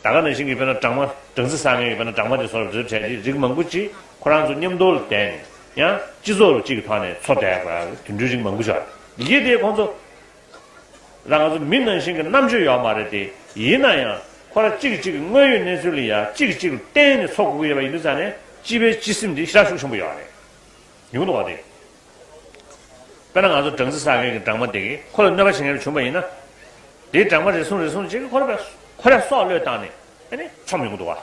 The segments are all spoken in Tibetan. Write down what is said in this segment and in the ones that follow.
ད་ག་ནས་ཤིང་གི་དཔེར་ན་སྦྲང་མ། སྦྲང་རྩི་ཟ་མཁན་གྱི་དཔེར་ན་སྦྲང་མ་དེ་ཚོར་འདིར་འཕྲད་དེ་རིགས་མང་པོ་ཅིག་ཁོ་རང་ཚོ་མཉམ་རྡོལ་བསྡད་ནས། ཡང། སྤྱི་ཚོགས་རུ་གཅིག་གི་ཐོག་ནས་འཚོ་བསྡད་པ། དུད་འགྲོའི་རིགས་མང་པོ་ཅིག། ཡི་གེ་དེ་ཁོང་ཚོ། ལ་ང་ཚོ་མི་ནང་བཞིན་གྱི་རྣམ་དཔྱོད་ཡོད་མ་རེད་དེ། ཡིན་ན་ཡང། ཁོ་རང་གཅིག་གིས་གཅིག་གི་དངོས་ཡོད་གནས་ཚུལ་ལ་ཡང་གཅིག་གིས་གཅིག་ལ་བརྟེན་ནས་འཚོ་དགོས་ཀྱི་ཡོད་པ་ཡིན་དུས་ས་ནས་སྤྱི་པའི་སྤྱི་སེམས་དེ་ཤ་ཤུགས་ཆེན་པོ་ཡོད་རེད། མི་གོ་འདུག་བ་དེ། དཔེར་ན་ང་ཚོ་སྦྲང་རྩི་བསགས་མཁན་གྱི་སྦྲང་མ་དེ་གིས་ཁོ་ལ་གནོད་པ་བྱེད་མཁན་རེ་བྱུང་བ་ཡིན་ན། དེའི་སྦྲང་མ་རེ་ཟུང་རེ་ཟུང་གིས་ཁོ་ལ་བའི་ཁོ་རས་སྲོག་བློས་བཏང་ནས་ཆོམ་ཡོང་གི་འདུག་བ།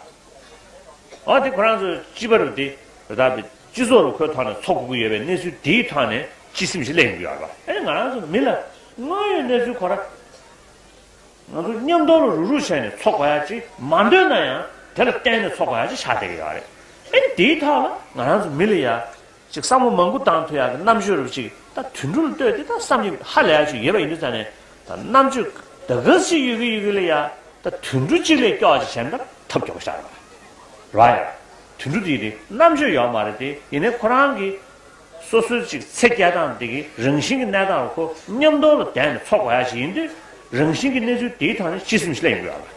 འོ་དེ་ཁོ་རང་ཚོའི་སྤྱི་པ་རུ་དེ་རུ་དག་པའི་སྤྱི་ཚོགས་རུ་ཁོའི་ཐོག་ནས་འཚོ་དགོས་ཀྱི་ཡོད་པའི་གནས་ཚུལ་དེའི་ཐོག་ནས་སྤྱི་སེམས་ཞིག་གླས་ཡོང་གི་ཡོད་རེད་བ། ང་རང་ཚོ་མི་ལ་དངོས་ཡོད་གནས་ཚུལ་གོ་ར། ང་ཚོ་མཉམ་རྡོག་རུ་རུག་རུག་བྱས་ནས་འཚོ་དགོས་ཡ་ཅིག་མ་འདོད་ན་ཡང་དེ་ལ་བརྟེན་ནས་འཚོ་དགོས་ཡ་ཅིག་ཆགས་བསྡད་ཀྱི་ཡོད་རེད། དེའི་ཐོག་ལ་ང་རང་ཚོ་མི་ལ་ཡ་ཅིག་བསམ་བློ་མང་པོ་བཏང་ཐུག་ཡག་གི་རྣམ་དཔྱོད་རུ་གཅིག་ད་དུས་འགྲོ་ལ་ལྟོས་དེ་ད་བསམ་གྱི་ཧ་ལས་ཡག་ཆུ་ཡེར་བ་ཡིན་དུས་ད་ནས་ད་རྣམ་དཔྱོད་ད་ག་ཟིག་ཡོད་གི་ཡོད་གི་ལས་ཡག་ད་དུས་འགྲོ་གཅིག་ལས་སྐྱོ་བ་ཅིག་བྱས་ན་ད་ཐབས་སྐྱོ་བོ་ཤར་བ་ར་ཡ་དུས་འགྲོ་དེ་དེ་རྣམ་དཔྱོད་ཡོག་མ་རེད་དེ་ཡིན་ནས་ཁོ་རང་གི་སོ་སོའི་ཅིག་ཚེ་སྐྱེལ་སྟངས་དེ་གི་རང་བཞིན་གི་གནས་སྟངས་རུ་ཁོ་མཉམ་སྡོང་ལ་བསྡད་ནས་འཚོ་དགོ་ཡག་ཅིག་ཡིན་དུས་རང་བཞིན་གི་གནས་ཚུལ་དེའི་ཐང་ནས་སྤྱི་སེམས་ཤི་ལ་ཡིན་དགོས་ཡག་ལ།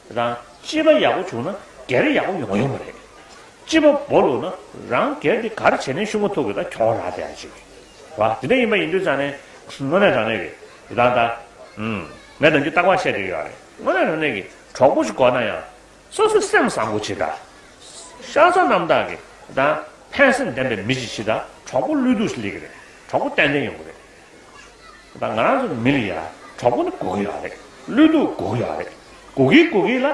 རང་སྤྱི་པ་ཡག་པོ་བྱུང་ན་སྒེར་ཡག་པོ་ཡོང་ཡོང་བ་རེད། སྤྱི་པ་བོ་ལུག་ན་རང་སྒེར་དེ་གར་བྱས་ནས་ཤུགས་མ་ཐུག་གི་ད་གྱོང་རག་བསྡད་ཡ་ཅིག་བ་དེ་འདྲ་ཡིན་པ་ཡིན་དུས་ཙང་ནས་དངོས་གནས་རང་ནས་ཀྱི་དེ་ད་ད་ཨུམ་ངས་ནམ་རྒྱུན་ལྟག་པར་བཤད་བསྡོད་ཡོད་རེད་དངོས་གནས་རང་ནས་ཀྱི་གྲོགས་པོ་ཞིག་གོ་ན་ཡང་སོ་སོས་སེམས་བཟང་པོ་བྱེད་ད། ཤ་ཚ་རྣམ་དག་གི་ད་ཕན་སེམས་ལྡན་པའི་མི་ཞིག་བྱེད་ད་གྲོགས་པོ་བློས་གཏུག་ཞིག་སླེ་གི་རེད་གྲོགས་པོ་ཏན་ཏན་ཡོང་གི་རེད། ང་རང་ཚོ་མི་ལ་ཡ་གྲོགས་པོ་ནི་གུག་ཡག་རེད་བློས་གཏུག་གུག་ཡག་རེད་གུག་གི་གུག་གི་ལ་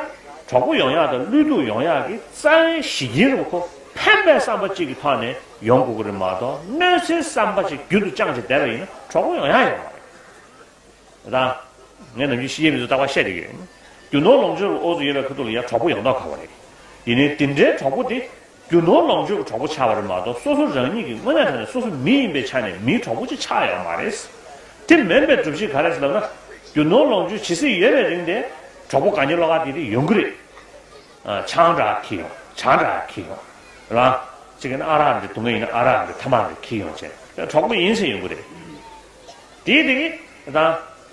གྲོགས་པོ་ཡོང་ཡག་དང་བློས་གཏུག་ཡོང་ཡག་གི་རྩ་བའི་གཞི་འདི་རུ་ཁོ་ཕན་པའི་བསམ་པ་གཅིག་གི་ཐོག་ནས་ཡོང་གུག་རེད་མ་གཏོགས་གནོད་འཚེའི་བསམ་པ་ཅིག་རྒྱུན་དུ་བཅངས་བྱས་བསྡད་པ་ཡིན་ན་གྲོགས་པོ་ཡོང་ཡག་ཡོང་མ་རེད་ད། ངས་ནམ་རྒྱུན་ཤི་ཡའི་མི་ཚོ་ལྟ་བ་བཤད་བསྡད་ཀྱི་རེད། རྒྱུ་ནོར་ལོངས་སྤྱོད་ལ་ཨོ་ཟོ་ཡོད་པའི་ཁུ་ཐུག་ལ་ཡ་གྲོགས་པོ་ཡོང་དོགས་ག་བ་རེད། ཡིན་ནའི་འདི་འདྲའི་གྲོགས་པོ་དེ། རྒྱུ་ནོར་ལོངས་སྤྱོད་ཀྱི་གྲོགས་པོ་ཆགས་པ་རེད་མ་གཏོགས་སོ་སོ་རང་ཉིད་ཀྱི་དངོས་གནས་ཐོག་ནས་སོ་སོ་མི་ཡིན་པའི་ཆ་ནས་མིའི་གྲོགས་པོ་ཅིག་ཆགས་ཡོད་མ་རེད། དེ་མིན་པའི་སྒྲུབ་བྱེད་ག་རེད་ལབ་ན། རྒྱུ་ནོར་ལོངས་སྤྱོད་ཇི་སྲིད་ཡོད་པའི་རིང་དེ། གྲོགས་པོ་ག་ཉེ་ལོག་ག་དེ་དེ་ཡོང་གི་རེད། ཆང་འདྲ་ཁྱི་ཡོང་ཆང་འདྲ་ཁྱི་ཡོང། རང། ཅིག་ཨ་རག་འདི་དུ་མ་ཡིན་ན་ཨ་རག་འདི་ཐ་མག་འདི་ཁྱི་ཡོང་བྱས་ན། གྲོགས་པོ་ཡིན་ཚེ་ཡོང་གི་རེད། དེའི་དེ།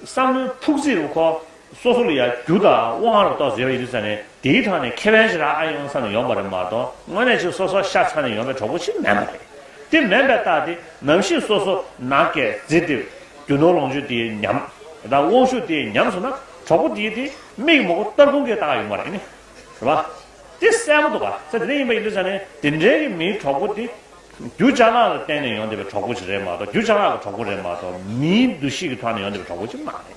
བསམ་བློའི་ཕུགས་རྩིས་རུ་ཁོ། སོ་སོ་ལ་ཡང་རྒྱུ་དང་དབང་རབ་རྟོག་ཟེར་བ་ཡོད་དུས་ཚང་ནས་དེའི་ཐང་ནས་ཁེ་ཕན་ཞིག་རང་ཨ་ཡོང་ཚང་ནས་ཡོང་པ་རེད་མ་གཏོགས་དངོས་གནས་ཆེ་སོ་སོ་ཤ་ཚང་ནས་ཡོང་པའི་གྲོགས་པོ་ཞིག་མེད་མ་རེད། དེ་མེད་པའི་རྟགས་དེ་ནམ་ཞིག་སོ་སོ་ན་སྐས་རྫི་དེ་རྒྱུ་ནོར་ལོངས་སྤྱོད་དེའི་ཉམས་དང་དབང་ཤུགས་དེའི་ཉམས་སོང་ན་གྲོགས་པོ་དེའི་དེ་མིག་མོག་སྟར་ཁུང་གི་རྟགས་ཡོད་མ་རེད། རེད་པ། དེ་གསལ་པོ་འདུག་ག་ཚད་དེ་འདྲ་ཡིན་པ་ཡིན་དུས་ཚང་ནས་དེ་འདྲའི་གི་མིའི་གྲོགས་པོ་དེ་རྒྱུ་ལྕགས་ལག་ལ་བརྟེན་ནས་ཡོང་བསྡད་པའི་གྲོགས་པོ་ཞིག་རེད་མ་གཏོགས་རྒྱུ་ལྕགས་ལག་གི་གྲོགས་པོ་རེད་མ་གཏོགས་མིའི་འདུ་ཤེས་ཀྱི་ཐང་ནས་ཡོང་བསྡད་པའི་གྲོགས་པོ་ཞིག་མ་རེད།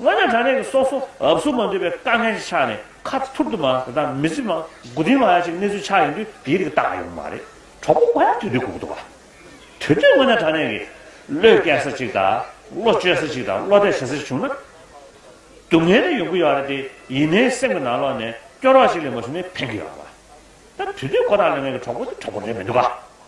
དངོས་གནས་དྲང་གནས་ཀྱི་སྲོག་སོ་ཨབ་སུ་མ་འདུས་པའི་དཀའ་ངལ་ཅིག་ཆགས་ནས་ཁ་ཐུར་དུ་མ་དེ་དང་མི་ཚེ་མ་དགུ་བདུན་ལྷག་ཡ་གཅིག་གནས་ཚུལ་ཆགས་ཡོང་དུས་དེའི་རིགས་བཏགས་ཡོང་གི་མ་རེད་གྲོགས་པོ་ང་ཡང་དུས་དུས་སྒུག་འདུག་བ། དུས་དུས་དངོས་གནས་དྲང་གནས་ཀྱི། བློས་སྐྱེལ་ས་ཅིག་དང་བློ་བཅོལ་ས་ཅིག་དང་བློ་གཏད་བྱེད་ས་ཅིག་བྱུང་ན། སྡུག་བསྔལ་དེ་ཡོང་གི་ཡོད་རེད་དེ་ཡིན་ནའི་སེམས་ཀྱི་ནང་ལོག་ནས་སྐྱོ་རོགས་ཤིག་ལས་མ་བྱུང་ནའི་ཕན་གི་ཡོད་རེད་བ། ད་དུས་དུས་ཁོ་ཐག་ལ་ངེད་ཀྱི་གྲོགས་པོ་དེ་གྲོགས་པོ་རེད་མི་འདུག་བ།